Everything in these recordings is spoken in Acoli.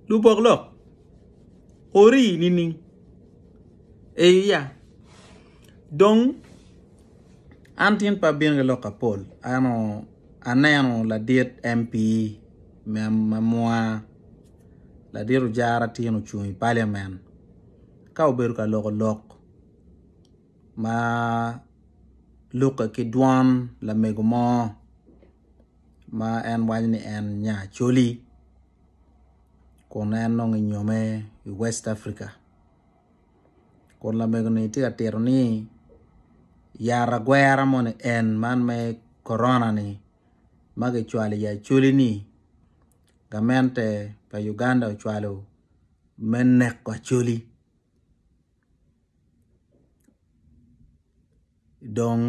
Lubok lok orii nining? Eeiya, dong an tin pe abino ki lok apol ento aneno ladit MP me amwa ladit ojara tye ni ocung i parliament ka obedo ka loko lok ma lukke ki dwon lamego mo. ma en waco ni en nya Acholi kun en nongo enyome i West Africa kun lamego ni tye ka tito ni yat agwera moni en man me korona ni ma kicwalo i Acholi ni gamente pa Uganda ocwalo me neko Acholi dong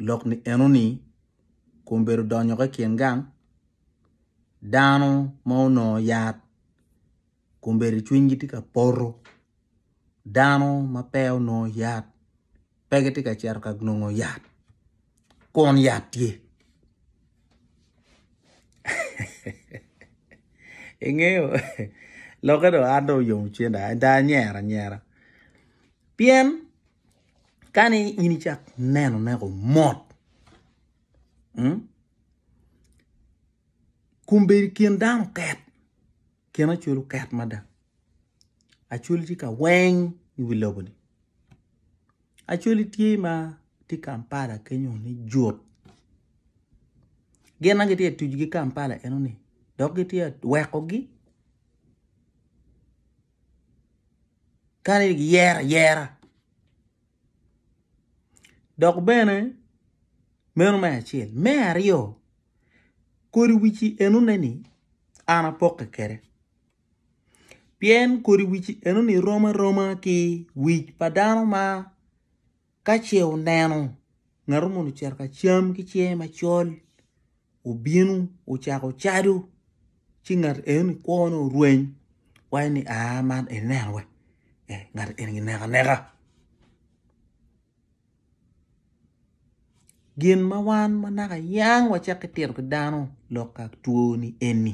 lok ni enoni kun obedo odonyo ki i kin gang dano ma onongo yat kun obedo cwinygi tye ka poto dano ma pe onongo yat pe gitye ka cito ka nongo yat kun yat tye ingeyo lokke dong an dong oyom cwiny ada ada anyero anyera pien kani in icak neno neko mot mm kombeddi kin dano ket kin acwal oket mada acwali tye ka weng i wi lobo ni acwali tye ma tye Kampala kenyo ni jut gin ma gitye ka tuc ki Kampala eno ni dok gitye ka weko gi kadi ni giyero ayera dok bene meno me acel me aryo kodi wici enoni ni an apokke kwede pien kodi wici enoni rom aroma ki wic pa dano ma. Ka ce wuneno ngatu moni ocito ka cam ki cinge macol, wubino wucako cadu, ci ngat enoni kwone orweny, waco ni, 'Aa, man en neno we? Eh, ngat eni gineko aneka. Gin ma wan ma naka yang wacakki tito ki dano lok ka twoni eni.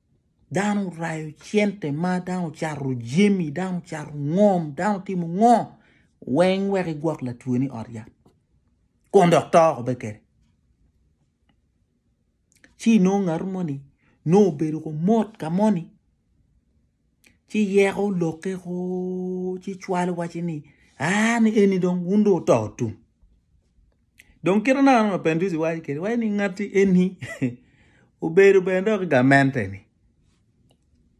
Dano rayo cente ma dano cato jemi, dano cato ngom, dano timo ngo weng wek igwok latwe ni ot yat. Kun dok to ko be kede. Ci no ngat mo ni no obedo ko mot ka moni. Ci yeko loke ko ci chwalo waci ni ah ni eni dong wun do oto tum. Dong kit anaka ma Penduzi waco kede, waco ni ngati eni obedo bene dok i gamente-ni.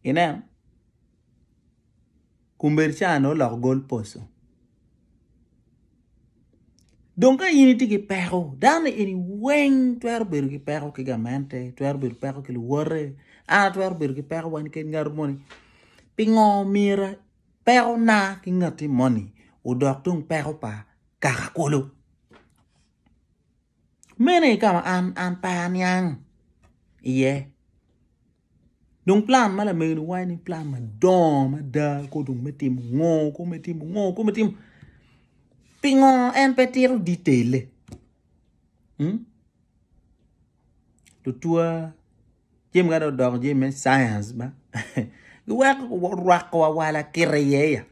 Ineno? Kumbedi cani oloko gol poso. Dong ka in itye ki peko, dano eni weng twero bedo ki peko ki gamente, twero bedo ki peko ki luwote, an atwero bedo ki peko wan keken ngat moni. Pingo myero pekona ki ngati moni odok tung peko pa kaka kulu mene ka ma an an pe aniang iye dong plan ma lamego-ni waco ni plan madongo mada kor dong me timo ngo kor me timo ngo kor me timo pingo en pe tito ditelle hmm? tutwa jami ka dong odoko jami me science ba giweko rwako wawala kite iye ya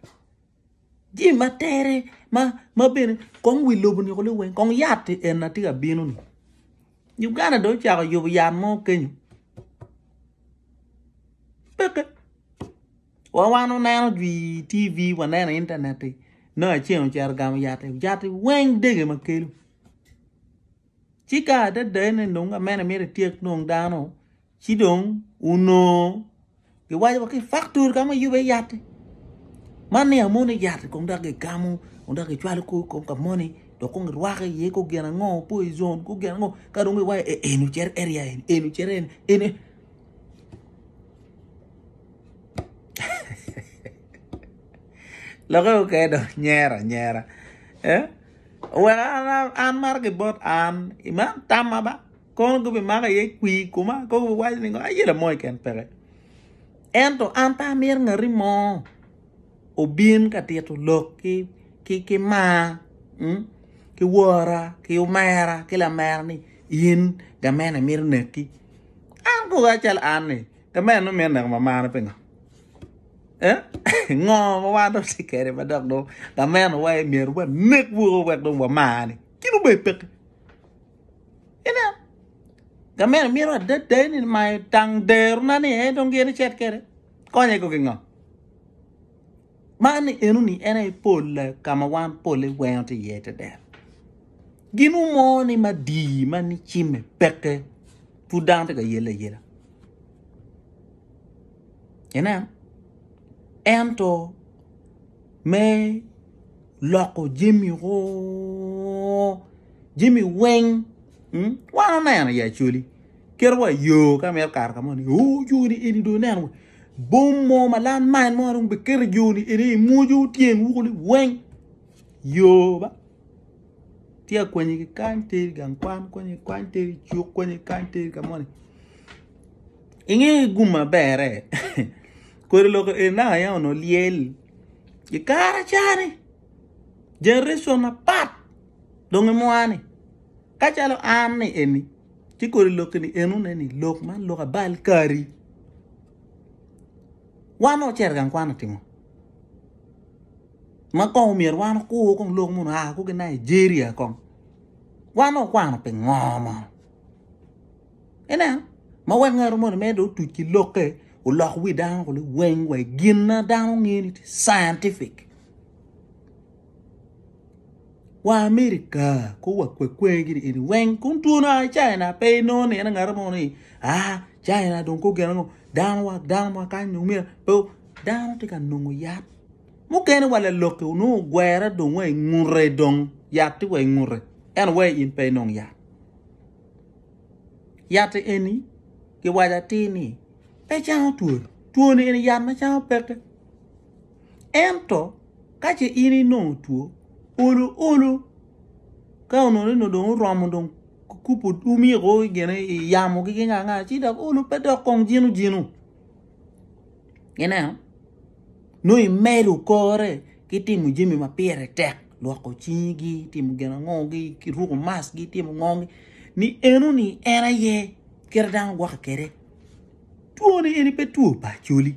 Jami ma tere ma bene kong wi lobo niko liweng kong yat en na tye ka bino ni Uganda dong ocako yubo yat mo kenyo peke wa wan waneno dwi TV waneno i internet i nongo aceng ocito ogamo yat i yat i weng dege ma kelo ci ka adada ene dong amene miti tyek dong dano Ci dong onongo giwaco wa ki faktori ka ma yube yatti. Man ni amoni yatti kong dok gigamo kong dok gicwalo kor kom ka moni dok kong girwako iye kor gin ango poison kor gin ango ka dong giwaco e eni ocito area eni eni ocito eni eni Lokke mukene dong nyero anyera. Eh? Oweko an, an, an maro gibot an. Iman tamma ba. kono gubimako iye kwir i koma kong gubiwaco ni aye lamoyo keken peke ento an pe amito ngati mo obin ka tito lok ki mar hmm? ki wora ki omera ki lamera ni in gamene mito neki an kono acalo an ni gamene nongo mito neko mamana pingo eh? ngo ma wan dong watye kwede ma dok dong gamenowa myero wanek woko wek dong wamane kit obed peke Ineno? Gameno mito adada ni mayo tang derona ni en dong gin icet kede. Konye ko gingo. Man ni enu ni en aye polle ka ma wan polle wengo ti iye te dero. Gin umo ni ma di ma ni cimme pekke pud dano ti ka yele yela. Ineno? Ento me loko jami o jami weng hmm? wan oneno ya coli kit wa yo ka mito kato ka mo ni o joni eni do neno bom mo ma lan main mo dong biketo joni eni i mwojo tyen wuko ni weng yo ba tye akwanyi ki kany teri gang kwan kwanyi kany teri cuk kwanyi kany teri ka mo ni inge gum maberre kodi loko eni naka ya onongo lyel I kare acani, generation apat dong imwani. Ka calo an ni eni, ci kodi lok ni enu ne ni lok man lok abal kari. Wan ocero gang kwano timo. Ma kong omyero wan okur kong lok mun aa kuki Nigeria kong. Wan okwano pingo mo? Ineno? Ma wek ngatu moni mere dong otuc ki lokke, olok wi dano kulu weng wa i gin ma dano ngiyo ni tye scientific. Wa America, ko wa kwekwe gini eni weng, kun twoni oa i China, pe inongo nino ngatu mo ni, ah, China dong ko gin ango, dano wa, dano ma kany dong myero, pe, dano tye ka nongo yat. Mukene wa lalokke onongo ogwere dong wa i ngute dong, yat tye wa i ngute, ento wai in pe inong yat. Yat eni giwaco atir ni pe cango two, twoni eni yat ma cango peke. Ento ka ce in inongo two, olo olo ka onongo ni dong oromo dong kukubo omiko gine i yamo ki kanya kanya ci dok olo pe dok kong jino jino. Ineno? nongo imedo kore ki timo jami ma pire tek, lwoko cingi, timo gin ango gi, ki ruko mask gi, timo ngo gi, ni eno ni en aye kit ma dano gwokke kwede. Two ni eni pe two pa acholi,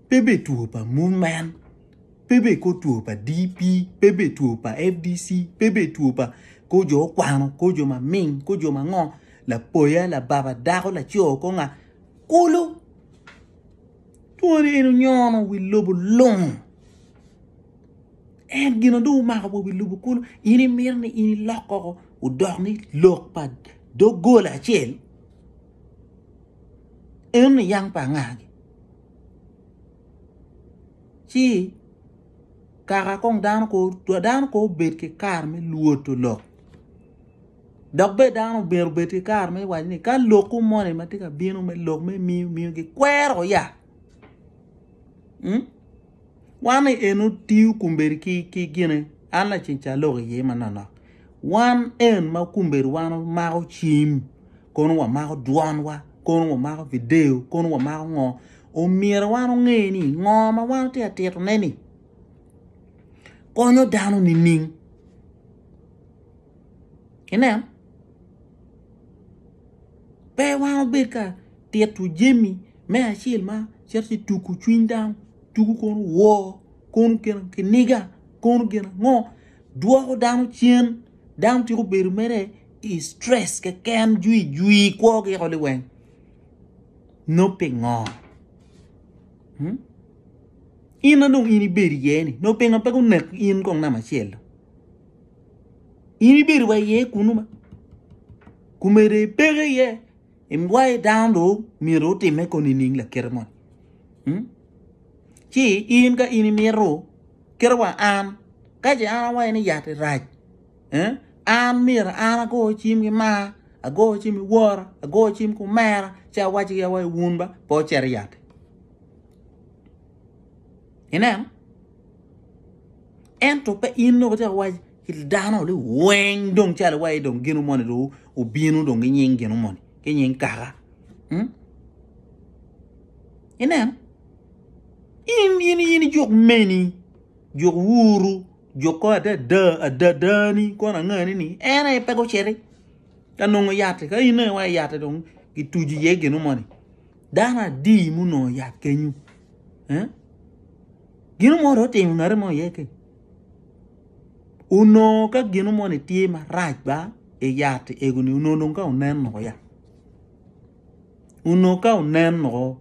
pe bene two pa movement, pe bene kor two pa DP, pe bene two pa FDC, pe bene two pa kor jo okwano, kor jo ma ming, kor jo ma ngo, lapoya, lababa, dako, laco, kor nga, kulu. Twoni eni onyono wi lobo lung. En gin onongo dong omako wa wi lobo kulu. In imito ni in ilok koko odok ni lok pa doggola acel. Eno ni yang pa angagi. Ci kaka kong dano ko dano ko obed ki kare me lwoto lok. Dok bene dano omyero obed ki kare me waco ni ka lokwu moni ma tye ka bino me lok me miyo miyo gikwero ya hmm? wan ni en otiyo kumbedi ki, ki gine an laceng ca lok iye manonok wan en ma kumbedi wan omako cim kono wamako dwonwa kono wamako video kono wamako ngo omyero wan onge ni ngo ma wan tye ka titone ni konyo dano nining Ineno? Pe wan obed ka tito jami me acel ma cito ci tuku cwiny dano, tuku kono woo, kono gin kiniga, kono gin ango, dwoko dano cen, dano ciko bedo mere i stress keken jwi jwi kwo giko liweng. No pingo? Hmm? In na dong in ibedo iye ni, no pingo pe gunek in kong namba acel? in ibedo wa iye kunu ma kumede ipeke iye imwaye dano ro myero otime ko nining lakite moni hmm? ci in ka in imito kite wa an ka ce an awaye ni yat irac eh? an myero an ago cim ki mar ago cim ki wor ago cim ki omera ci awac ki awac wun ba pe ocito yat Ineno? Ento pe in dong icako wac ki dano ni weng dong calo iwaci dong gino moni dong obino dong ki nying gino moni ki nying kaka. Hmm? Ineno? In in in ijuk meni, juk wuru, juk ko adada adadani kono angani ni en aye pe guciti ka nongo yatti ka in aye waci yatti dong gituji iye gino moni. dano adi munongo yat kenyu eh? gino mo ro timo ngate mo iye ke onongo ka gino mo ni tye marac ba i yat egoni onongo dong ka onen noko ya onongo ka onen noko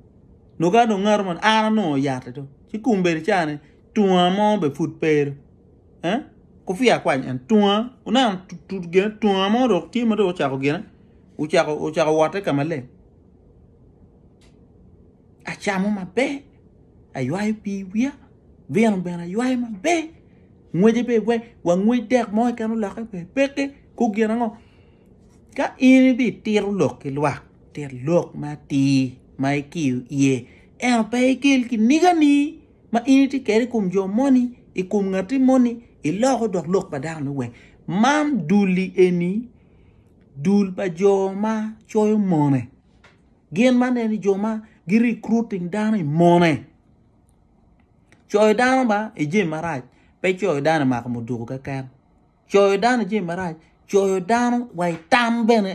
nongo ka dong ngato man an anongo yat to ci kombedi cani tunga mo be pud pere eh? kufiya kwac en tunga oneno tunga mo dok tye ma dong ocako gine ocako ocako wote ka maleng Acamo maber, aywayo pii wiya, vino bene aywayo maber, ngwece bene pe wangwec dek mo keken olokke bene peke kong gin ango. Ka in ibitito lok ki lwak, tit lok matir ma ikiyo iye ento pe ikel kinigani ma in itye kwede i kom jo moni, i kom ngati moni, iloko dok lok pa dano-ni weng. Man dul-li eni. dul pa jo ma coyo mone gin ma neni jo ma gi recruiting dano i mone coyo dano ba i jami marac pe coyo dano i mako muduku keken coyo dano i jami marac coyo dano wa i tam bene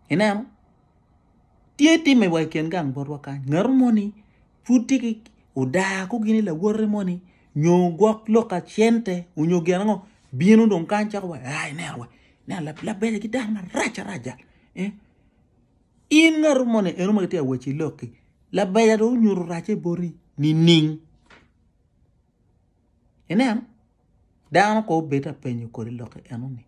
ineno Tye timme wa i kin gang botwa kany, ngato mo ni pud tye ki odaa ko gini lawote mo ni nyo gwok lok ka cente onyo gin ango bino dong kany cako wa ai neno wa neno labele ki dano marac arac jal eh in ngato mo ni eno ma kitye ka wacci lok-ki labeja dong onyuto racce boti nining? Ineno? Dano kong obed ka penyo kodi lok enoni.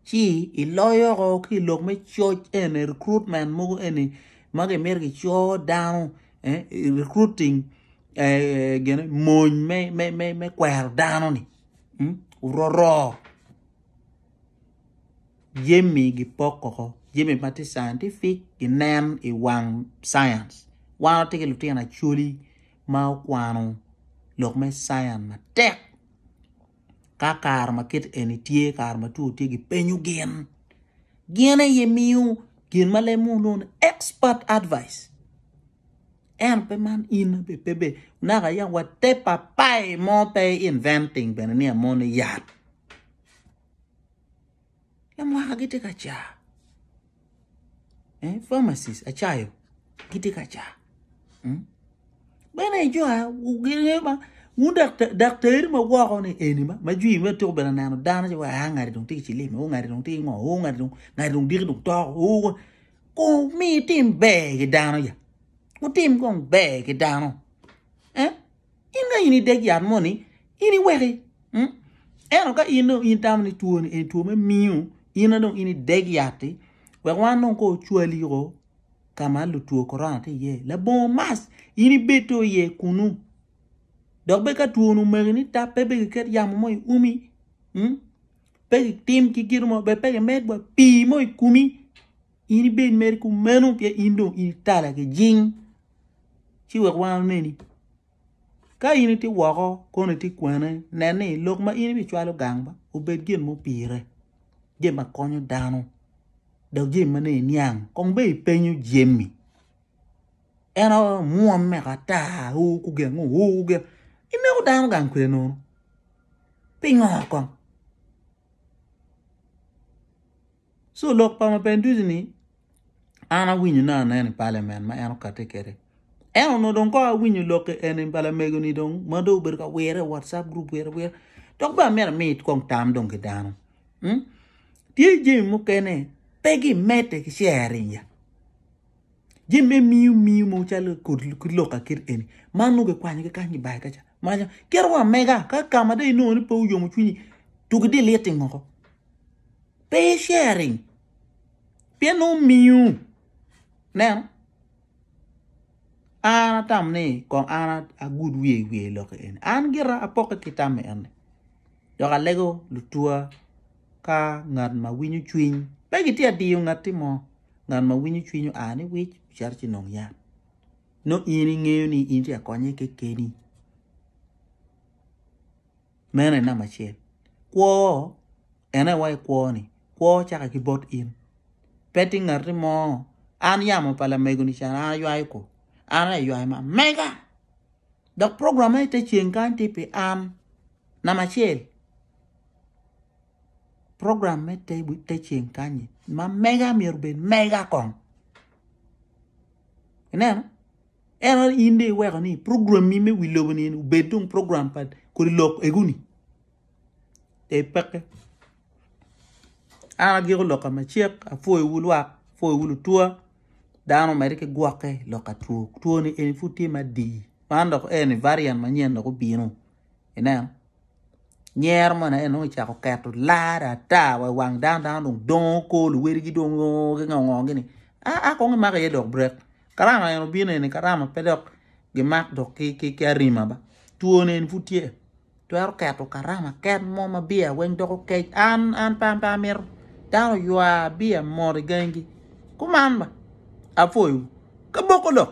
Ci iloyo ko ki i lok me coc eni, recruitment mogo eni ma gimito gico dano, eh, recruiting, eh, gine, mony me, me, me, me kwero dano-ni. Mm? Ororo. Jemi gipoko ko. Jemi ma tye scientific ginen i wang science. Wan watye ki lutino acoli ma okwano lok me cience matek ka kare ma kit eni tye kare ma two tye gi penyo gin gin aye miyo gin ma lemo lwongo ni expert advice en pe man in be pe be naka ya wa te papai mo pe inventing bene ni amoni yat Lamwaka gitye ka car. Eh, pharmacist, acayo, gitye ka car. Hmm? Bene i jo gingeyo ma wun daktari ma woko ni eni ma ma jwi me tuko bene neno dano ci wa ah, ngati dong tye ki cilim, o oh, ngati dong tye ki ngo, o oh, ngati dong ngati dong diki dong toko, o oh, ko mi tim ber ki dano ya. Wutim kong ber ki dano. Eh? In ka in ideg yat moni, in iweki. Hmm? Ento ka in dong in tamo ni two ni en two me miyo, in dong in ideg yatti, wek wan dong ko ocwali yoko ka ma lutwo korona ti iye. Labongo mas, in ibed to iye kunu. Dok be ka two nu magi ni tap, pe be giket yamo mo i umi. Hmm? Pe gitim ki gino mo, be pe gimed wa pii mo i kumi. In ibed mere kumeno pien in dong in itala ki jing. Ci wek wan oneni. Ka in itye woko kono itye kwene, nen ni lok ma in ibicwalo gang ba obed gin mupire, gin ma konyo dano, dok jami ma ne iniang. Kong be ipenyo Jemmy. En aye omwomme ata, oo kugeng, oo kugeng. Ineko dano gang kwede nono. Pingo kong? So lok pa Mapenduzi ni an awinyo ne aneno i parliament ma en okate kede. En ono dong ko awinyo lokke eni balamego ni dong ma dong obedo ka wire WhatsApp group wire wire. Dok ba mera mi kong tam dong ki dano. Hmm? Tye jemi mukene pe gi mete ki sharing ya. Jemi me miu miu mo chalo kod ki lok akit eni. Man nuge kwanyo ki kanyi bai kacha. Maja kero wa mega ka kama de ino ni pe uyomo chunyi tugi di liti moko. Pe sharing pien nongo omiyo neno an atamo ni kong an agud wiye i wiye lok eni an gira apokke ki tam eni dok alego lutwa ka ngat ma winyo cwiny pe gitye ka diyo ngatti mo ngat ma winyo cwiny oa ni wic ocito ci nongo yat nongo in ingeyo ni in tye ka konye kekeni. Meno aye namba acel. Kwo, en aye iwaco ni kwo-ni, kwo caka ki bot in. Pe tye ngati mo, an yamo pa lamego-ni ca an aywayo kwo, an aye aywayo ma mega. Dok program ma i te ceng kany tye pi an, namba acel. Program me te, te ceng kany-nyi ma mega myero obed mega kong. Ineno? Ento in dong iweko ni programmi me wi lobo ni obed dong program pa kodi lok eguni. Te peke. An agiko loka macek, apwoyowu lwak, apwoyowu lutwa. Dano omedde ki gwokke i loka two. Two ni eni pud tye madii. Man dok eni variant manyen dok obino. Ineno? Nyero moni aye nongo ocako keto lar ata wa i wang dano, dano dong dongo ko, luwedigi dong oo gingo ngo gini. A a kong imako iye dok brek. Karama eni obino eni karama pe dok gimak dok ki arima ba twone eni pud tye twero keto karama ket mo ma biya weng doko kec an an pe an pe amito dano ywa biya mot i gangi kuman ba apwoyo ka boko dok.